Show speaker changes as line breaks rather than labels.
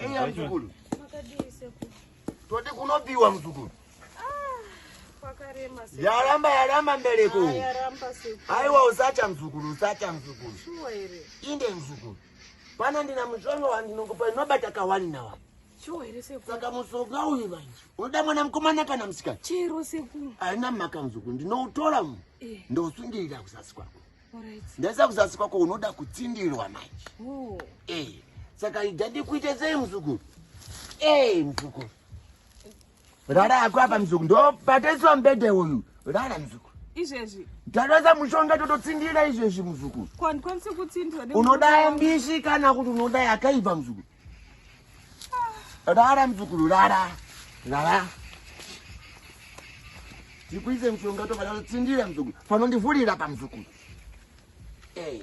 Eya mzukuru.
Makadii sekuru? Toti kunopiwa
mzukuru. Pakarema
sekuru. Yaramba yaramba mbereko.
Ah, yaramba sekuru.
Aiwa usacha mzukuru
usacha mzukuru. Shuwa
here? Inde mzukuru.
Pano ndina mushonga wandinokupa inobata kawani na wani. Shuwa here sekuru?
Saka mushonga uyu
manje. Unoda mwana mukomana kana musikana? Chero sekuru.
Haina mhaka mzukuru
ndinoutora mu. Eh. Ndosungirira kuzasi kwako. ndaisa
kuzasi kwako
unoda kutsindirwa manje oh. eh,
saka
ida ndikuite sei muzukuru ee eh, muzukuru rara ako apa muzukuru ndobataiswa mbede uyu rara muzukuru izvezvi
ndatoisa mushonga
tototsindira izvezvi muzukuru
unoda mbishi
kana kuti unoda yakaipa muzukuru Rara mzukuru rara. Rara. Tikuise mshonga tofa lalo tsindira mzukuru. Fano ndivulira pa mzukuru. Eh. Hey.